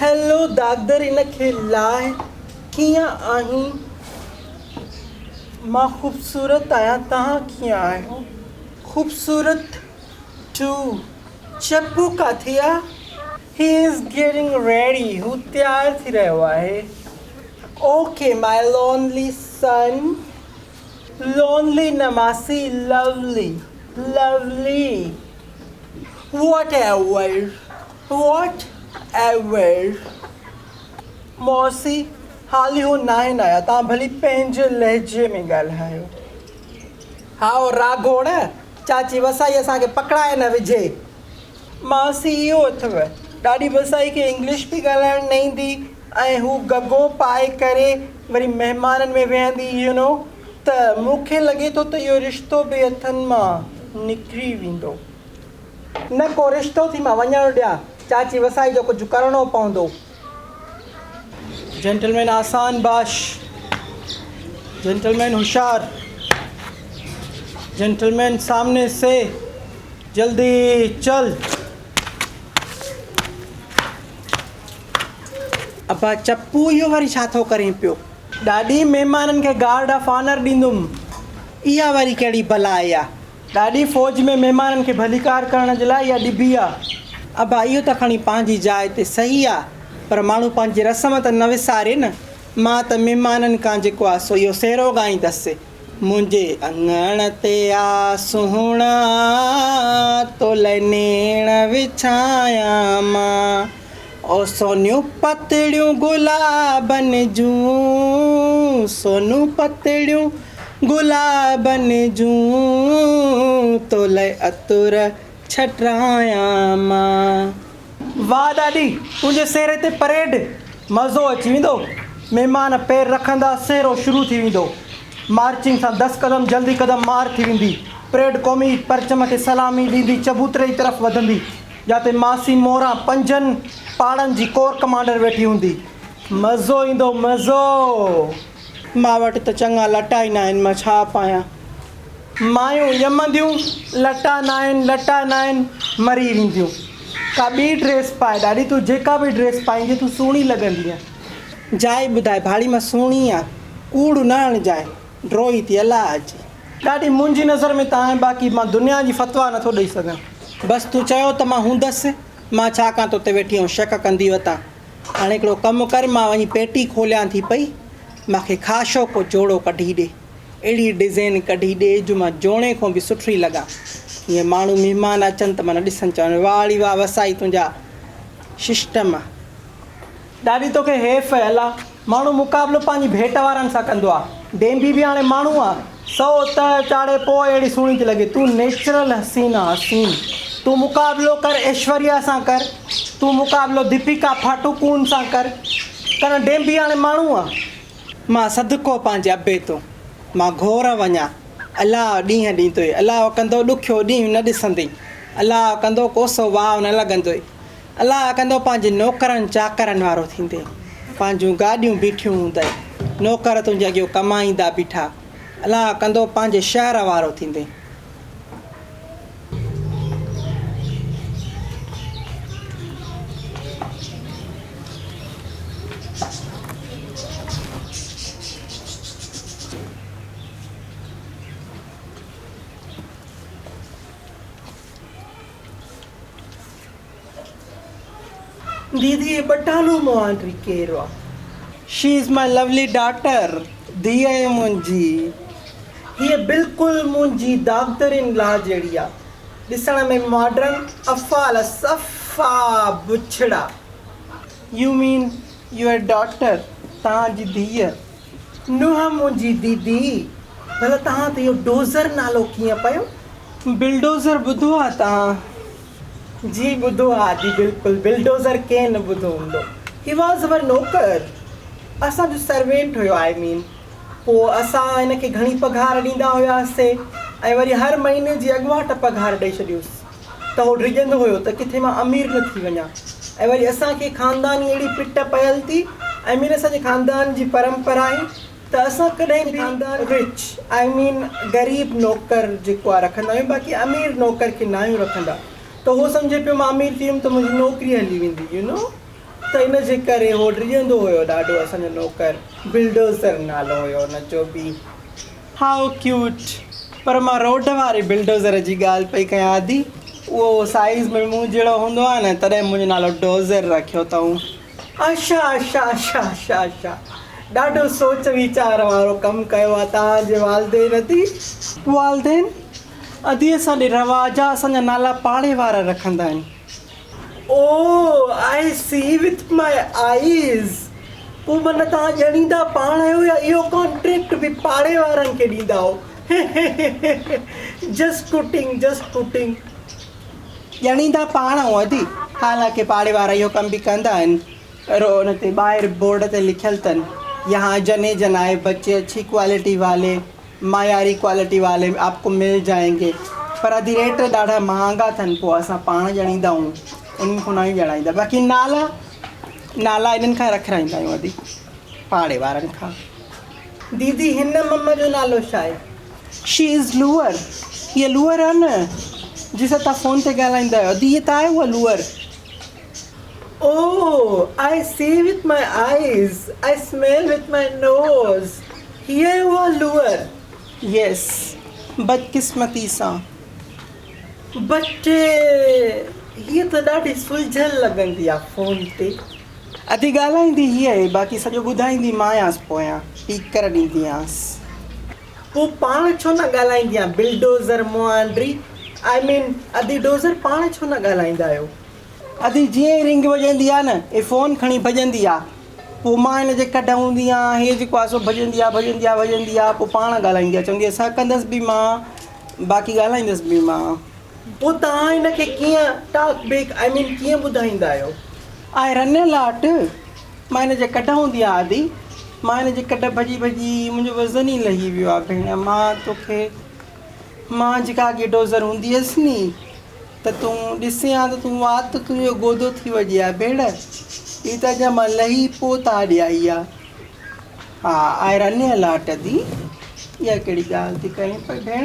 Hello doctor ان کي لاهه ڪيئن آهين مان خوبصورت آهيان توهان ڪيئن آهيو خوبصورت ٽو چپو ڪاٿي آ هي از گيٽنگ ريڊي هو تيار ٿي رهيو آهي okay my lonely son lonely نه ماسي lovely lovely whatever whatever ماسي حال اهو ناهن آيا توهان ڀلي پنهنجي لهجي ۾ ڳالهايو. هائو راگهوڙ چاچي وسائي اسان کي پڪڙائي نه وجهي. ماسي اهو اٿئو ڏاڏي وسائي کي انگلش به ڳالهائڻ نه ايندي ۽ هو گگو پائي ڪري وري مهمانن ۾ ويهندي يو نو ته مون کي لڳي ٿو ته اهو رشتو به هٿن مان نڪري ويندو. نه ڪو رشتو ٿي مان وڃڻ ڏيان. چاچي وسائي جو ڪجهه ڪرڻو پوندو. جينٽلمين آسان باش. جينٽلمين هوشيار. جينٽلمين سامني سي. جلدي چل. ابا چپو اهو وري ڇا ٿو ڪرين پيو. ڏاڏي مهمانن کي گارڊ آف آنر ڏيندم. اها وري ڪهڙي بلا آئي آ. ڏاڏي فوج ۾ مهمانن کي ڀليڪار ڪرڻ جي لاء اها ڏبي آ. ابا اهو ته کڻي پنهنجي جاء تي صحيح آ پر ماڻهو پنهنجي رسم ته نه وساري نه. مان ته مهمانن کان جيڪو آ سو اهو سهرو ڳائيندس. منهنجي اڱڻ تي آ سهڻا تو لئي نيڻ وڇايان مان. او سونيون پتڙيون گلابن جون، سونيون پتڙيون گلابن جون، تولئه عطر ڇٽرايان مان. واھ ڏاڏي تنهنجي سهري تي پريڊ مزو اچي ويندو مهمان پير رکندا سهرو شروع ٿي ويندو مارچنگ سان دس قدم جلدي قدم مار ٿي ويندي پريڊ قومي پرچم کي سلامي ڏيندي چبوتري جي طرف وڌندي جاتي ماسي موران پنجن پاڙن جي ڪور ڪمانڊر ويٺي هوندي. مزو ايندو مزو. مان وٽ ته چڱا لٽا ئي ناهن مان ڇا پايان. مايون ڄمنديون لٽا ناهن لٽا ناهن مري وينديون. ڪا ٻي ڊريس پاء ڏاڏي تون جيڪا به ڊريس پائيندينء تون سهڻي لڳندينء. جاء ٻڌاء ڀاڙي مان سهڻي آ. ڪوڙ نه هڻجانء. ڊوهي ٿي الله اچي. ڏاڏي منهنجي نظر ۾ ته آهين باقي مان دنيا جي فتويٰ نه ٿو ڏئي سگهان. بس تون چيو ته مان هوندس مان ڇا ڪان توتي ويٺي آئون شڪ ڪندي وتان هاڻي هڪڙو ڪم ڪر مان وڃي پيٽي کوليان ٿي پئي مان کي خاشو ڪو جوڙو ڪڍي ڏي اهڙي ڊزين ڪڍي ڏي جو مان جوڻي کون به سٺڙي لڳان جيئن ماڻهو مهمان اچن ته من ڏسن چون واهه ڙي واهه وسائي تنهنجا ششٽم. ڏاڏي توکي حيف اهي الله. ماڻهو مقابلو پنهنجي ڀيٽ وارن سان ڪندو آ. ڊينڀي به هاڻي ماڻهو آ. سو ته چاڙهي پوء اهڙي سهڻي ٿي لڳي. تون نيچرل حسين آ حسين. تون مقابلو ڪر ايشوريا سان ڪر. تون مقابلو ديپيڪا پاٽوڪون سان ڪر. ڪرڻ ڊينڀي هاڻي ماڻهو آ. مان صدقو پنهنجي ابي تو مان گهور وڃان الاء ڏينهن ڏيندوئي الاء ڪندو ڏکيو ڏينهن نه ڏسندين الاء ڪندو ڪوسو واء نه لڳندوئي. الله ڪندو پنهنجي نوڪرن چاڪرن وارو ٿيندين پنهنجون گاڏيون بيٺيون هوندئي نوڪر تنهنجي اڳيو ڪمائيندا بيٺا الله ڪندو پنهنجي شهر وارو ٿيندين. ديدي هي بٽانو مون آنڊري ڪير آ. She is my lovely daughter ڌيء آهي منهنجي. هيء بلڪل منهنجي داغدر ان لا جهڙي آ. ڏسڻ ۾ ماڊرن افعال آ صفا بڇڙا. يو مين يوئر ڊاٽر توهان جي ڌيء. نونهن منهنجي ديدي. ڀلا توهان تي اهو ڊوزر نالو ڪيئن پيو؟ بلڊوزر ٻڌو آ توهان. جي ٻڌو ها جي بلڪل بلڊوزر ڪنهن نه ٻڌو هوندو هي واز اوور نوڪر اسان جو سروينٽ هيو آئي مين پو اسان هن کي گهڻي پگهار ڏيندا هيا سي ۽ وري هر مهيني جي اڳواٽ پگهار ڏئي ڇڏيوس ته هو ڊڄندو هيو ته ڪٿي مان امير نه ٿي وڃان ۽ وري اسان کي خانداني اهڙي پٽ پيل ٿي آئي مين اسان جي خاندان جي پرمپرا آهي ته اسان ڪڏهن به Rich I mean غريب نوڪر جيڪو آهي رکندا آهيون باقي امير نوڪر کي ناهيون رکندا ته هو سمجهي پيو مان امير ٿي ويم ته منهنجي نوڪري هلي ويندي you know ته ان جي ڪري هو ڊڄندو هيو ڏاڍو اسان جو نوڪر Bulldozer نالو هيو ان جو به How cute پر مان روڊ واري Bulldozer جي ڳالهه پئي ڪيان ادي اهو سائيز ۾ مون جهڙو هوندو آهي نه تڏهن منهنجو نالو Dozer رکيو اٿئون. آشا آشا آشا آشا آشا ڏاڍو سوچ ويچار وارو ڪم ڪيو آ توهان جي والدين ادي. والدين ادي اسان ڏي روا جا اسان جا نالا پاڙي وارا رکندا آهن. او آء سي وٿ ماء آئيز پو معنيٰ توهان ڄڻيندا پاڻ آهيو يا اهو ڪانٽريڪٽ به پاڙي وارن کي ڏيندا آهو هه هه هه هه جسٽ ڪوٽنگ جسٽ ڪوٽنگ. ڄڻيندا پاڻ ۽ ادي، حالانڪه پاڙي وارا اهو ڪم به ڪندا آهن. رهو ان تي ٻاهر بورڊ تي لکيل تن، يهان جني جنائي بچي اڇي ڪوالٽي والي، معياري ڪوالٽي والي ۾ آپ ڪو مل جائين گي. پر ادي ريٽ ڏاڍا مهانگا اٿن، پوء اسان پاڻ ڄڻيندا آهيون، انهن کان ناهيون ڄڻائيندا، باقي نالا، نالا انهن کان رکرائيندا آهيون ادي، پاڙي وارن کان. ديدي هن مم جو نالو ڇا آهي؟ شي از لوئر هيء لوئر آهي نه جنهن سان توهان فون تي ڳالهائيندا آهيو ادي هيء ته آهي اها Laura. Oh I see with my eyes I smell with my nose هيء آهي اها لوئر. ييس بدقسمتي سان. بٽ هيء ته ڏاڍي سلجهيل لڳندي آهي فون تي. اڌي ڳالهائيندي هيء ۽ باقي سڄو ٻڌائيندي مانئس پويان ٽيڪر ڏينديانس. پوء پاڻ ڇو نه ڳالهائيندي آن بلڊوزر مئانڊري آء مين ادي ڊوزر پاڻ ڇو نه ڳالهائيندا آهيو. ادي جيئن ئي رنگ وڄندي آ نه اي فون کڻي ڀڄندي آ پوء مان ان جي ڪڍ هوندي آ هي جيڪو آ سو ڀڄندي آ ڀڄندي آ ڀڄندي آ پوء پاڻ ڳالهائيندي آ چوندي آ سا ڪندس به مان باقي ڳالهائيندس به مان. پوء توهان هن کي ڪيئن ٽاڪ بيڪ آئي مين ڪيئن ٻڌائيندا آهيو. آء رنيل آهٽ مان هن جي ڪڍ هوندي آ آدي مان هن جي ڪڍ ڀڄي ڀڄي منهنجو وزن ئي لهي ويو آ ڀيڻ مان توکي مان جيڪا اڳي ڊوزر هوندي هيس ني ته تون ڏسين ها ته تون وات ته تنهنجو گودو ٿي وڄي آ ڀيڻ هي ته اڄان مان لهي پو تاء ڏي آئي آ ها آء رنيل آهٽ ادي اها ڪهڙي ڳالهه ٿي ڪرين پئي ڀيڻ.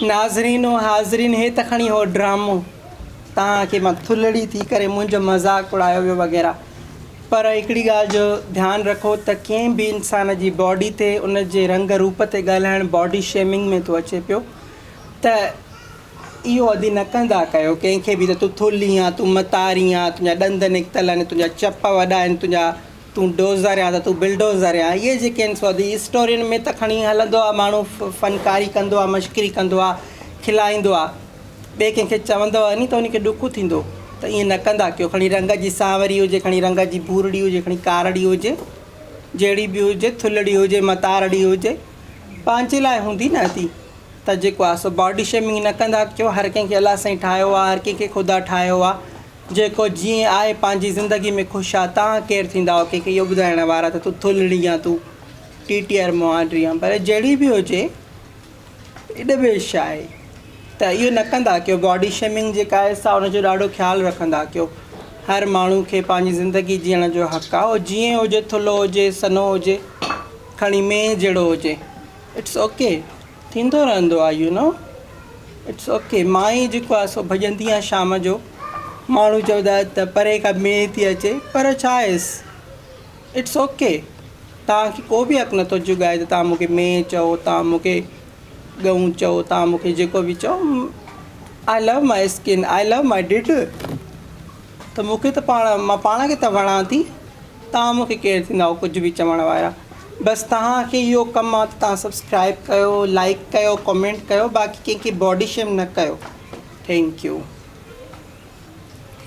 ناظرين و حاضرين هي ته کڻي هو ڊرامو توهان کي مان ٿلهڙي ٿي ڪري منهنجو مذاق اڙايو ويو وغيره پر هڪڙي ڳالهه جو ڌيان رکو ته ڪنهن به انسان جي باڊي تي ان جي رنگ روپ تي ڳالهائڻ باڊي شيمنگ ۾ ٿو اچي پيو ته اهو ادي نه ڪندا ڪيو ڪنهن کي به ته تون ٿلهي آن تون متاري آن تنهنجا ڏند نڪتل آهن تنهنجا چپ وڏا آهن تنهنجا تون ڊوزر آهين ته تون بلڊوزر آهين اهي جيڪي آهن سو دي اسٽورين ۾ ته کڻي هلندو آهي ماڻهو فنڪاري ڪندو آهي مشڪري ڪندو آهي کلائيندو آهي ٻئي ڪنهن کي چوندو ني ته ان کي ڏک ٿيندو ته ائين نه ڪندا ڪيو کڻي رنگ جي سانوري هجي کڻي رنگ جي ڀورڙي هجي کڻي ڪارڙي هجي جهڙي به هجي ٿلڙي هجي متارڙي هجي پنهنجي لاء هوندي نه ٿي ته جيڪو آهي سو باڊي شيمنگ نه ڪندا ڪيو هر ڪنهن کي الله سائين ٺاهيو آهي هر ڪنهن کي خدا ٺاهيو آهي جيڪو جيئن آء پنهنجي زندگي ۾ خوش آ، توهان ڪير ٿيندائو ڪنهن کي اهو ٻڌائڻ وارا ته تون ٿلهڙي يا تون ٽي ٽي آر مهاٽ ريان پر جهڙي به هجي ايڏ به عشق آهي ته اهو نه ڪندا ڪيو باڊي شيمنگ جيڪا آهي سا ان جو ڏاڍو خيال رکندا ڪيو هر ماڻهو کي پنهنجي زندگي جيئڻ جو حق آ هو جيئن هجي ٿلهو هجي سنهو هجي کڻي مينهن جهڙو هجي اٽس اوڪي ٿيندو رهندو آهي يو نو اٽس اوڪي مان ئي جيڪو آهي سو ڀڄندي آهيان شام جو ماڻهو چوندا آهن ته پري کان مينهن ٿي اچي پر ڇا ايس اٽس اوڪي توهان کي ڪو بي حق نٿو جڳائي ته توهان مونکي مينهن چئو توهان مونکي ڳئون چئو توهان مونکي جيڪو بي چئو آء لو ماء skin I love my did ته مونکي ته پاڻ مان پاڻ کي ته وڻان ٿي توهان مونکي ڪير ٿيندائو ڪجهه به چوڻ وارا بس توهان کي اهو ڪم آ ته توهان سبسڪرائب ڪيو لائڪ ڪيو ڪمينٽ ڪيو باقي ڪنهن کي باڊي شيم نه ڪيو ٿينڪ يو